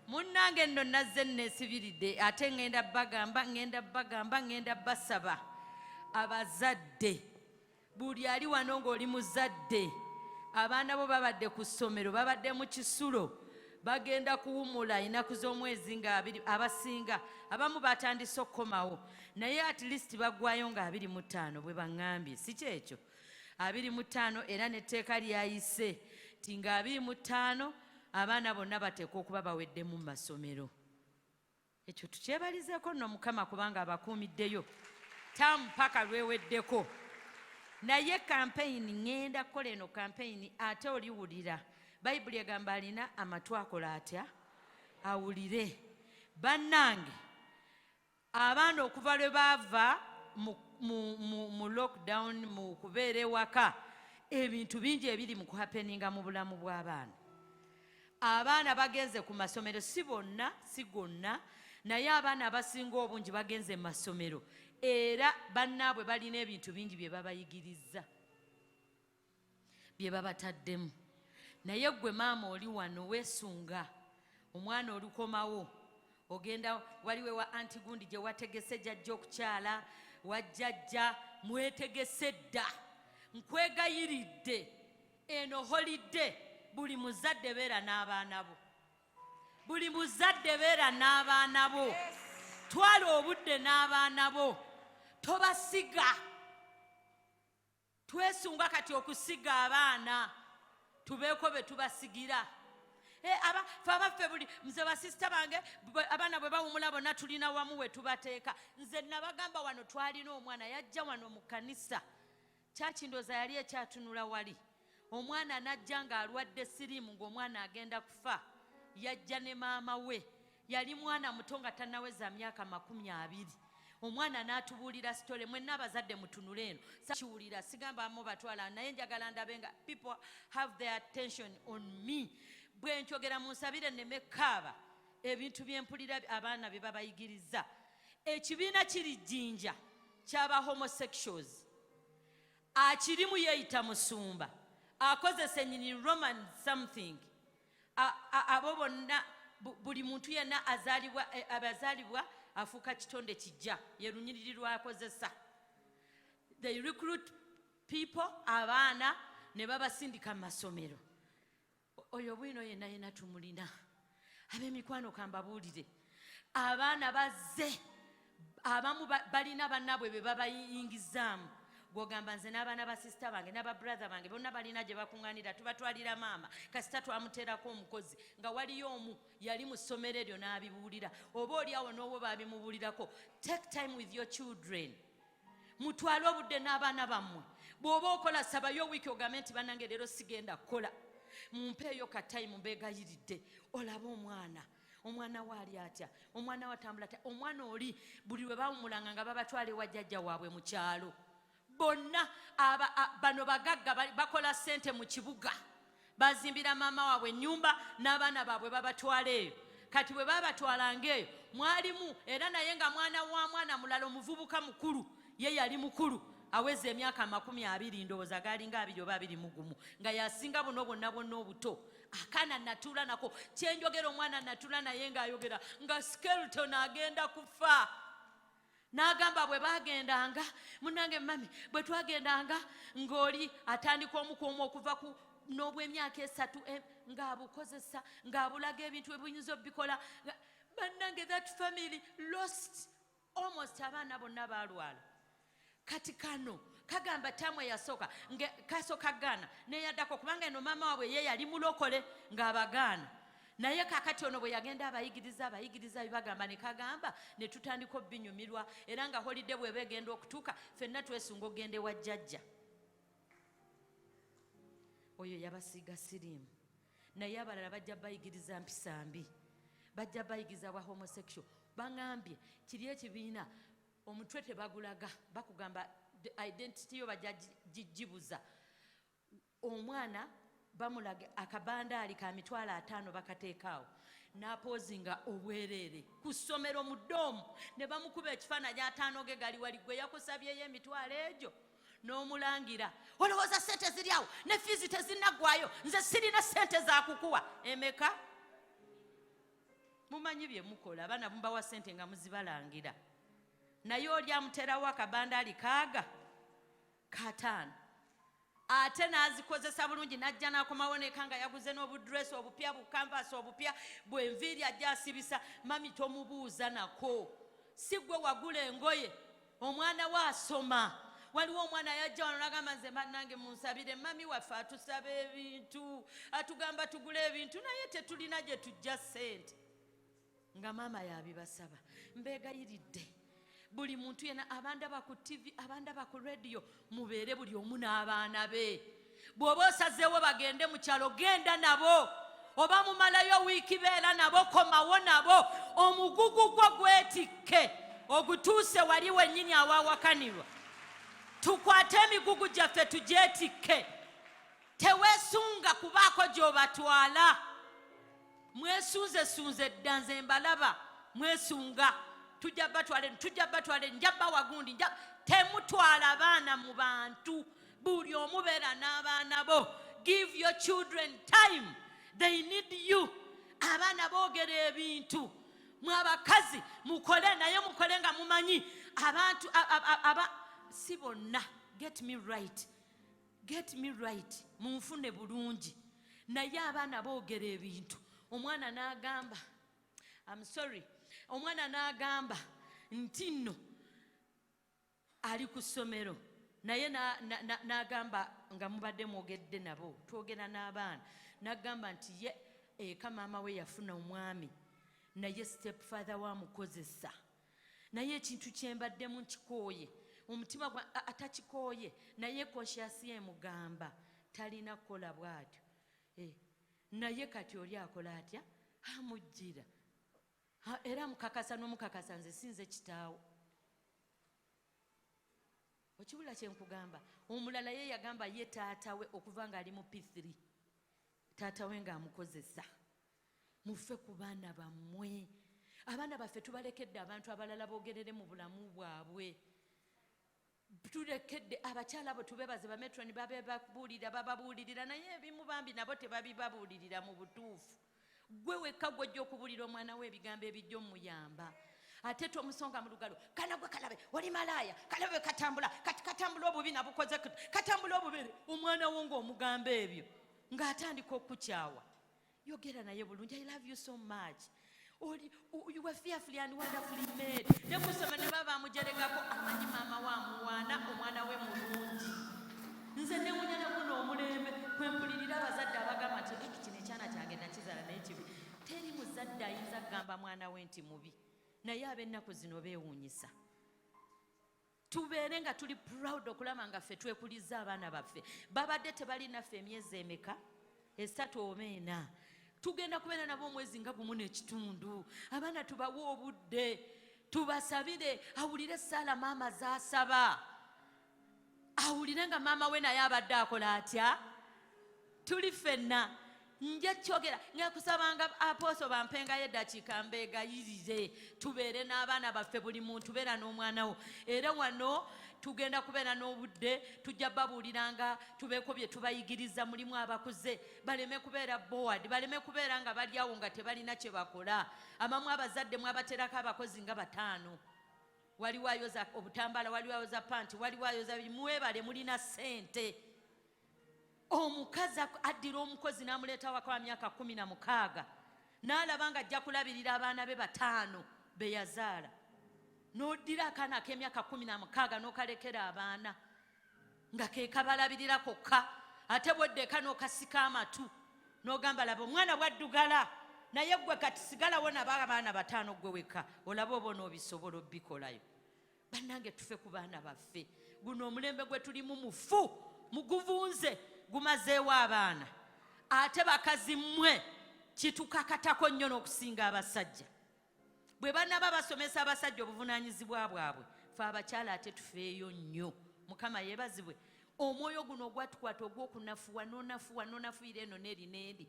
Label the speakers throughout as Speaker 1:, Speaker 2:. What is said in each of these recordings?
Speaker 1: munnange nno nazze nneesibiridde ate ŋŋenda bagamba ŋŋenda bagamba ŋŋenda basaba abazadde buli ali wano ng'oli muzadde abaana bo babadde ku ssomero babadde mu kisulo bagenda kuwumula enaku z'omwezi nga abiri abasinga abamu batandise okukomawo naye at least bagwayo nga abiri mu ttaano bwe baŋŋambye si kyekyo abiri mu ttaano era n'etteeka lyayise nti nga abiri mu ttaano abaana bonna bateekwa okuba baweddemu mu masomero ekyo tukyebalizeeko nno mukama kubanga abakuumiddeyo taamu paka lweweddeko naye kampeyini ŋŋenda kukola eno kampeyini ate oliwulira bayibuli egamba alina amatu akola atya awulire bannange Abaana okuva lwe baava mu, mu, mu, mu lockdown mu kubeera ewaka ebintu bingi ebiri mu kuhapeninga mu bulamu bw'abaana. Abaana bagenze ku masomero, si bonna, si gonna, naye abaana abasinga obungi bagenze mu masomero era bannaabwe balina ebintu bingi bye babayigirizza. bye babataddemu naye ggwe maama oli wano weesunga omwana olukomawo ogenda waliwe wa anti gundi gye wategese jajja okukyala wajjajja mwetegese dda nkwegayiridde eno holidde buli muzadde beera n'abaana bo buli muzadde beera n'abaana bo twala obudde n'abaana bo tobasiga yes. twesunga kati okusiga abaana tubeeko be tubasigira eh, fe abaffe buli nze basisita bange abaana bwe bawumula bonna tulina wamu we tubateeka nze nabagamba wano twalina omwana yajja wano mu kanisa kyakindooza yali ekyatunula wali omwana najja ng'alwadde siriimu ng'omwana agenda kufa yajja ne maama we yali mwana muto nga tanaweza myaka makumi abiri omwana natubuulira sitole mwenna abazadde mutunule eno kiwulira sigamba amu batwala naye njagala ndabe nga people have their attention on me bwe nkyogera mu nsabire neme kaaba ebintu byempulira abaana bye babayigiriza ekibiina kiri jjinja kyaba homosexuals akirimu yeeyita musumba akozesa enyini roman something abo bonna buli muntu yenna azalibwa eh, abazalibwa afuuka kitonde kijja ye lunyiriri lwakozesa they recruit people abaana ne babasindika mu masomero oyo bwino yenna yenna tumulina ab'emikwano kambabuulire abaana bazze abamu balina bannaabwe be babayingizaamu gwogamba nze n'abaana ba sisita bange n'aba brother bange bonna balina gye bakuŋŋanira tubatwalira maama kasita twamuteerako omukozi nga waliyo omu yali mu ssomero eryo n'abibuulira oba oli awo n'owo baabimubuulirako take time with your children mutwale obudde n'abaana bammwe bw'oba okola sabayo wiiki ogambe nti bannange leero sigenda kukola mumpeeyo ka time mbeegayiridde olaba omwana omwana we ali atya omwana we atambula atya omwana oli buli lwe bawumulanga nga babatwala ewa jjajja waabwe mu kyalo bonna bano bagagga bakola ssente mu kibuga bazimbira maama waabwe ennyumba n'abaana baabwe babatwala eyo kati bwe babatwalanga eyo mwalimu era naye nga mwana wa mwana mulala omuvubuka mukulu ye yali mukulu aweza emyaka amakumi abiri ndowooza gaalinga abiri oba abiri mugumu nga yasinga buno bwonna bwonna obuto akaana natuula nako kyenjogera omwana natuula naye ngaayogera nga skelton agenda kufa n'agamba bwe bagendanga munange mami bwe twagendanga ng'oli atandika omukuumu okuva ku n'obwemyaka esatu eh, ng'abukozesa ng'abulaga ebintu ebuyinza obikola bannange that family lost almost abaana bonna balwala kati kano kagamba tamu eyasooka kasoka gaana neyaddako kubanga eno maama waabwe ye yali mulokole ng'abagaana naye kakati ono bwe yagenda abayigiriza abayigiriza bibagamba ne kagamba ne tutandika obinyumirwa era nga holide bweba egenda okutuuka fenna twesunga okugenda ewa jjajja oyo yabasiiga siriimu naye abalala bajja bayigiriza mpisa mbi bajja bayigiza bwa homosexual bangambye kiri ekibiina omutwe tebagulaga bakugamba identity yo bajja gibuza omwana bamulaga akabandaali ka mitwalo ataano bakateekaawo n'apoozi nga obwereere ku ssomero mu doomu ne bamukuba ekifaananyi ataano ge gali wali gwe yakusabyeyo emitwalo egyo n'omulangira olowooza sente ziri awo ne fiizi tezinnaggwayo nze sirina sente zakukuwa emeka mumanyi bye mukola abaana mubawa sente nga muzibalangira naye oli amuterawo akabanda ali kaaga kataano ate n'azikozesa bulungi n'ajja n'akomawo neka nga yaguze n'obudresi obupya bukanvasi obupya bwenviiri ajja asibisa mami tomubuuza nako si gwe wagula engoye omwana we asoma waliwo omwana yajja wano nagamba nze banange munsabire mami waffe atusaba ebintu atugamba tugule ebintu naye tetulina gye tujja sente nga maama yabibasaba mbegayiridde buli muntu yena abandaba ku ttivi abandaba ku rediyo mubeere buli omu n'abaana be bw'oba osazeewo bagende mu kyalo genda nabo oba mumalayo wiiki beera nabo komawo nabo omugugu gwo gwetikke ogutuuse wali wennyini awawakanirwa tukwate emigugu gyaffe tugyetikke teweesunga kubaako gy'obatwala mwesunze sunze dda nze mbalaba mwesunga tujja batwale tujja batwale nja bawa gundi nja temutwala baana mu bantu buli omu beera n'abaana bo give your children time they need you abaana boogera ebintu mwe abakazi mukole naye mukole nga mumanyi abantu aba si bonna get me right get me right munfune bulungi naye abaana boogera ebintu omwana n'agamba am sorry omwana n'agamba nti nno ali ku ssomero naye n'agamba nga mubadde mwogedde nabo twogera n'abaana n'agamba nti ye eka maama we yafuna omwami naye step father wamukozesa naye ekintu kyembaddemu nkikooye omutima gwa atakikooye naye konsyasi emugamba talina kukola bwatyo eh, naye kati oli akola atya amujjira era mukakasa nomukakasa nze sinze kitaawo okibula kyenkugamba omulala ye yagamba ye taatawe okuva nga ali mu p3 taatawe ngaamukozesa muve ku baana bammwe abaana baffe tubalekedde abantu abalala bogerere mu bulamu bwabwe tulekedde abakyala abo tubebaze bametroni babebabuulira bababuulirira naye ebimu bambi nabo tebabibabuulirira mu butuufu gwe wekka gwojja okubuulira omwana we ebigambo ebijja omuyamba ate tomusonga mu lugalo kana gwe kalabe oli malaaya kalabe katambula kati katambula obubi nabukoze katambula obubere omwana wo ngaomugamba ebyo ng'atandika okukyawa yogera naye bulungi i love you so much oli you were fearfully and wonderfully made ne kusoma ne baba amujeregako amanyi maama wa muwaana omwana we mulungi nze newunya nakuno omulembe kwempulirira abazadde abagamba nti eki kino ekyana kyange nakizala naye kibi teri muzadde ayinza kugamba mwana we nti mubi naye ab'ennaku zino beewuunyisa tubeere nga tuli proud okulaba nga ffe twekulizza abaana baffe babadde tebali naffe emyezi emeka esatu oba ena tugenda kubeera nabo omwezi nga gumu n'ekitundu abaana tubawe obudde tubasabire awulire esaala maama zasaba awulire nga maama we naye abadde akola atya tuli ffenna nja kyogera ngakusabanga apooso bampengayo eddakiika mbeegayirire tubeere n'abaana baffe buli muntu beera n'omwana wo era wano tugenda kubeera n'obudde tujja babuuliranga tubeeko bye tubayigiriza mulimu abakuze baleme kubeera board baleme kubeera nga balyawo nga tebalina kye bakola abamu abazadde mwabaterako abakozi nga bataano waliwo ayoza obutambala waliwo ayoza panti waliwo ayoza mwebale mulina ssente omukazi addira omukozi n'amuleeta waka wa myaka kumi na mukaaga n'alaba nga ajja kulabirira abaana be bataano be yazaala n'oddira akaana ak'emyaka kumi na mukaaga n'okalekera abaana nga ke kabalabirira kokka ate bweddeeka n'okasika amatu n'ogamba laba omwana bwaddugala naye gwe kati sigalawo naba abaana bataano gwe wekka olaba oba onoobisobola obikolayo bannange tufe ku baana baffe guno omulembe gwe tulimu mufu muguvunze gumazeewo abaana ate bakazi mmwe kitukakatako nnyo n'okusinga abasajja bwe banaba basomesa abasajja obuvunaanyizibwa bwabwe fe abakyala ate tufeeyo nnyo mukama yeebazibwe omwoyo guno ogwatukwata ogw'okunafuwa nonafuwa nonafuira eno neeri neeri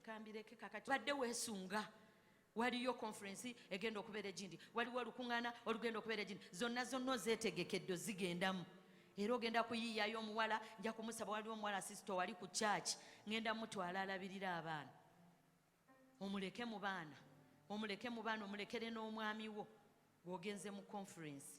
Speaker 1: kambireke kakati badde weesunga waliyo konferensi egenda okubeera egindi waliwo olukuŋŋaana olugenda okubeera egindi zonna zonna ozeetegekedde ozigendamu era ogenda kuyiiyayo omuwala nja kumusaba waliwo omuwala sisita wali ku kyaki ŋenda mutwala alabirira abaana omuleke mu baana omuleke mu baana omulekere n'omwami wo gwogenze mu konferensi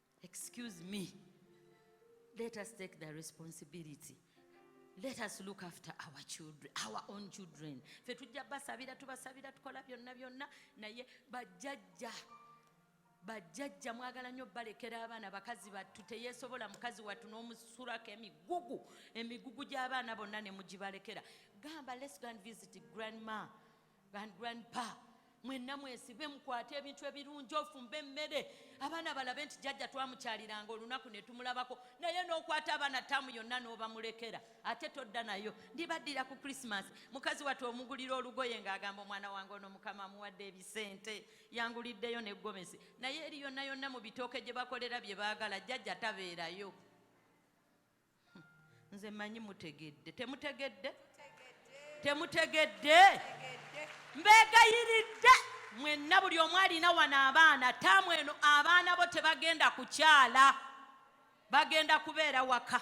Speaker 1: Excuse me. Let us take the responsibility. Let us look after our children, our own children. Fe tujja basabira tubasabira tukola byonna byonna naye bajjajja bajjajja mwagala nnyo balekera abaana bakazi battu teyesobola mukazi wattu n'omusulako emigugu emigugu gy'abaana bonna ne mugibalekera gamba let's go and visit grandma grand grandpa mwenna mwesibe mukwate ebintu ebirungi ofumba emmere abaana balabe nti jajja twamukyaliranga olunaku netumulabako naye nokwata abaana taamu yonna nobamulekera ate todda nayo ndibaddira ku krisimas mukazi watu omugulira olugoye ngaagamba omwana wange ono mukama amuwadde ebisente yanguliddeyo negomesi naye eri yonna yonna mu bitooke gye bakolera bye baagala jajja tabeerayo nze manyi mutegedde temutegedde temutegedde mbegayiridde mwenna buli omu alina wano abaana taamu eno abaana bo tebagenda kukyala bagenda kubeera waka